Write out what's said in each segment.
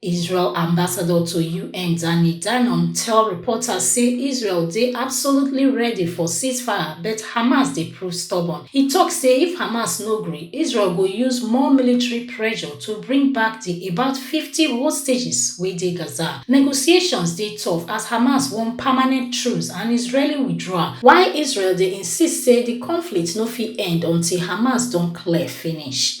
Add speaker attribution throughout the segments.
Speaker 1: Israel ambassador to UN Danny Danon tell reporters say Israel dey absolutely ready for ceasefire but Hamas dey prove stubborn. He tok say if Hamas no gree, Israel go use more military pressure to bring back di about fifty hostages wey dey Gaza. Negotiations dey tough as Hamas want permanent truce and Israeli withdrawal, while Israel dey insist say di conflict no fit end until Hamas don clear finish.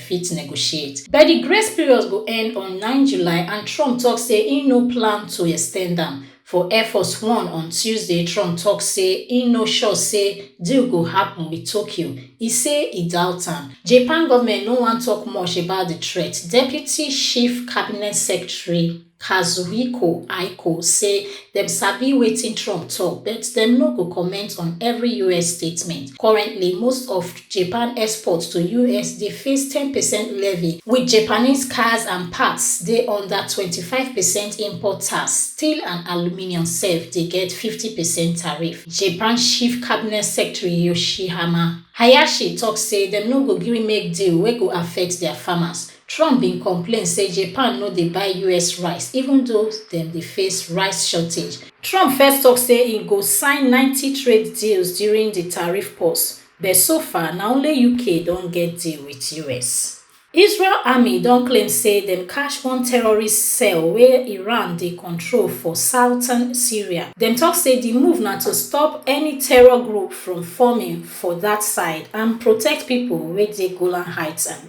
Speaker 1: fit negotiate. But di grace period go end on nine July and Trump tok say im no plan to extend am. For Air Force One on Tuesday, Trump tok say im no sure say deal go happun wit Tokyo. E say e doubt am. Japan goment no wan tok much about di threat, Deputy Chief Cabinet Secretary, Kazuhiko Aiko say dem sabi wetin Trump tok but dem no go comment on every us statement. Currently, most of Japan exports to us dey face ten percent levy, wit Japanese cars and parts dey under twenty five percent import tax, steel and aluminium sef dey get fifty percent tariff. Japan Chief Cabinet Secretary Yoshihama Hayashi tok say dem no go gree make deal wey go affect dia farmers. Trump bin complain say Japan no dey buy us rice even though dem dey face rice shortage. Trump first tok say e go sign ninety trade deals during di tariff pause, but so far na only UK don get deal wit us. Israel army don claim say dem catch one terrorist cell wey Iran dey control for southern Syria. Dem tok say di move na to stop any terror group from forming for dat side and protect pipo wey dey Golan Heights and.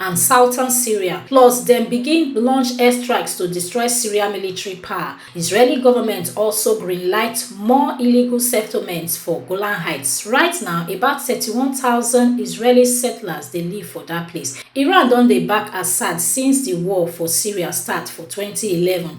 Speaker 1: and southern Syria, plus dem begin launch airstrikes to destroy Syria military power. Israeli government also greenlight more illegal settlements for Golan Heights. Right now, about 31,000 Israeli settlers dey live for dat place. Iran don dey back Assad since di war for Syria start for 2011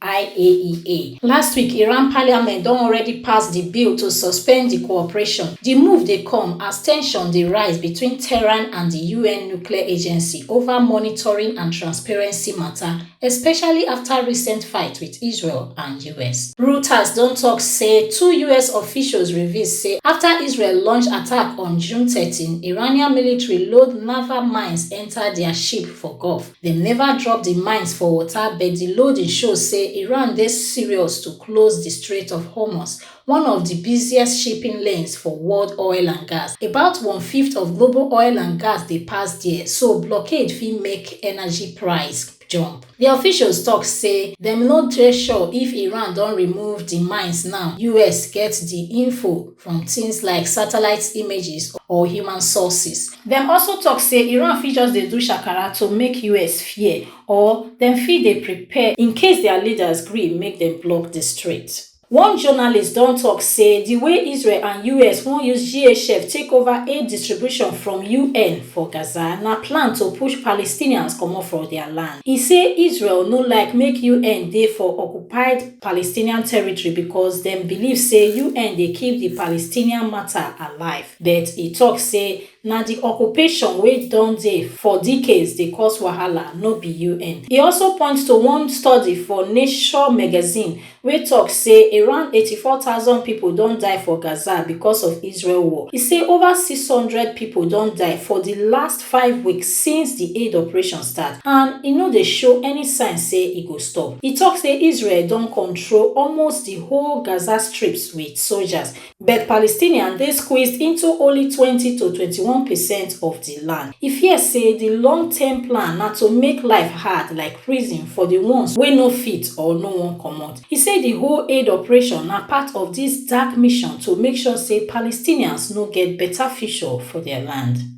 Speaker 1: IAEA. Last week, Iran parliament don already pass di bill to suspend di cooperation. Di move dey come as tension dey rise between Tehran and di UN nuclear agency over monitoring and transparency matter, especially after recent fight with Israel and US. Reuters don talk say two US officials reveal say after Israel launch attack on June 13, Iranian military load naval mines enter their ship for Gulf. Dem neva drop di mines for water but di loading show say Iran dey serious to close di Strait of Hormuz, one of di busiest shipping lanes for world oil and gas. About one-fifth of global oil and gas dey pass there, so blockade fit make energy price jump. Di officials tok say dem no dey sure if Iran don remove di mines now, us get di info. from tins like satellite images or human sources. Dem also tok say Iran fit just dey do shakara to make us fear or dem fit dey prepare in case dia leaders gree make dem block di strait. One journalist don tok say di way Israel and us wan use GHF take over aid distribution from UN for Gaza na plan to push Palestinians comot for dia land. E say Israel no like make UN dey for occupied Palestinian territory because dem believe say UN dey keep di Palestinian matter alive, but e tok say na di occupation wey don dey for decades dey cause wahala, no be UN. E also point to one study for Nature magazine wey tok say around eighty four thousand pipo don die for Gaza because of Israel war. E say over six hundred pipo don die for di last five weeks since di aid operation start and e no dey show any sign say e go stop. E tok say Israel don control almost di whole Gaza Strips wit soldiers, but Palestinians dey squeezed into only twenty to twenty one percent of di land. E fear say di long-term plan na to make life hard like prison for di ones wey no fit or no wan comot. E say di whole aid operation na part of dis dark mission to make sure say Palestinians no get beta future for dia land.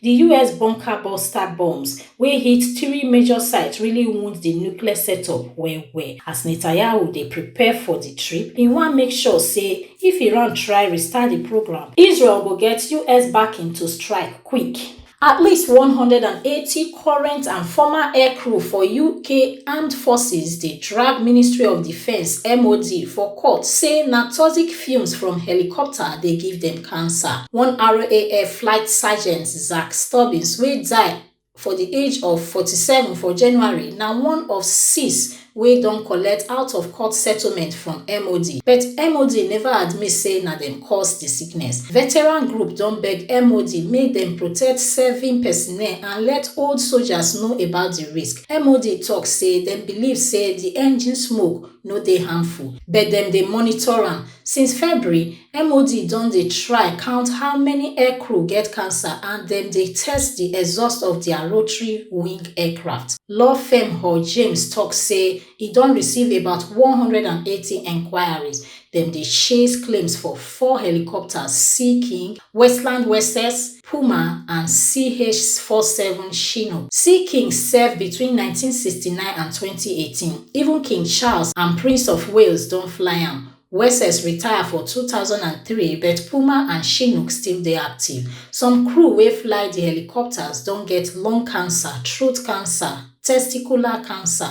Speaker 1: Di us bunker buster bombs wey hit three major sites really wound di nuclear setup well well. As Netanyahu dey prepare for di trip, e wan make sure say if Iran try restart di programme, Israel go get us backing to strike quick. At least one hundred and eighty current and former aircrew for UK armed forces dey drag Ministry of Defence, MOD, for court say na toxic fumes from helicopter dey give dem cancer. One RAF flight sergeant, Zach Stubbins, wey die for di age of 47 for January, na one of six wey don collect out-of-court settlement from MOD, but MOD neva admit say na dem cause di sickness. Veteran group don beg MOD make dem protect serving personnel and let old soldiers know about di risk. MOD tok say dem believe say di engine smoke, no dey harmful but dem dey monitor am. Since February, MOD don dey try count how many aircrew get cancer and dem dey test di exhaust of dia rotary-wing aircraft. Law firm Hall James tok say e don receive about one hundred and eighty enquiries. Dem dey chase claims for four helicopters, Sea King, Westland Wessex, Puma and CH-47 Chinook. See King serve between nineteen sixty nine and twenty eighteen, even King Charles and Prince of Wales don fly am. Wessex retire for two thousand and three but Puma and Chinook still dey active. Some crew wey fly di helicopters don get lung cancer, throat cancer, testicular cancer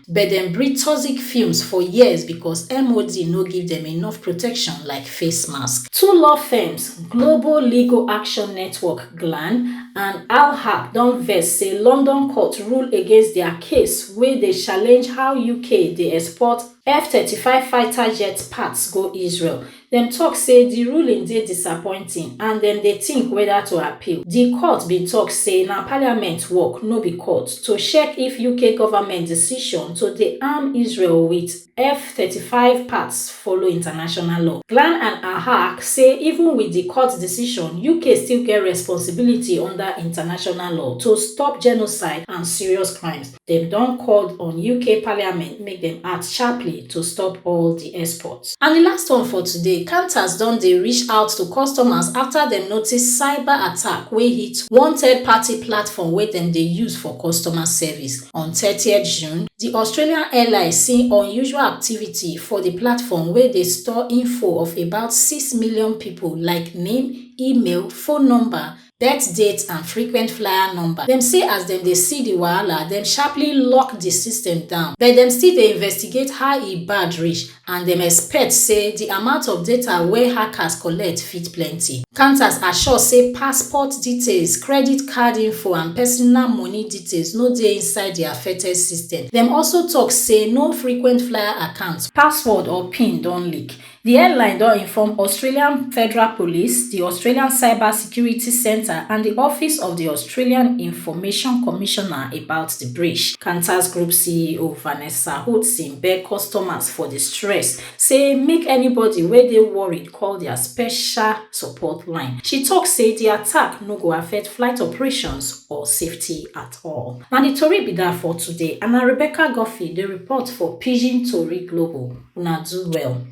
Speaker 1: but dem breed toxic fumes for years becos MOD no give dem enough protection like face mask. Two law firms, Global Legal Action Network, GLAN, and Alhab don vex say London court rule against dia case wey dey challenge how UK dey export F-thirty five fighter jet parts go Israel, Dem tok say di ruling dey disappointing and dem dey tink weda to appeal. Di court bin tok say na parliament work, no be court, to check if UK government decision to dey arm Israel wit F thirty five parts follow international law. Glan and Ahag say even wit di court decision, UK still get responsibility under international law to stop genocide and serious crimes. Dem don called on UK parliament make dem act sharply to stop all di export. And di last one for today, Qantas don dey reach out to customers afta dem notice cyber attack wey hit one third party platform wey dem dey use for customer service. On thirtieth June, di Australian airline see unusual activity for di platform wey dey store info of about six million pipo like name, email, phone number, birth date and frequent flyer number. Dem say as dem dey see di wahala, dem sharply lock di system down, but dem still dey investigate how e bad reach and dem expect say di amount of data wey hackers collect fit plenty. Kantas assure say passport details, credit card info and personal money details no dey inside di affected system. Dem also tok say no frequent flyer account, password or pin don leak. Di airline don inform Australian Federal Police, di Australian Cyber Security Centre and di Office of di Australian Information Commissioner about di breach. Qantas Group CEO Vanessa Hudson beg customers for di stress, say make anybody wey dey worried call dia special support line. She tok say di attack no go affect flight operations or safety at all. Na di tori be dat for today and na Rebecca Guffey dey report for Pidgin Tori Global. Una do well.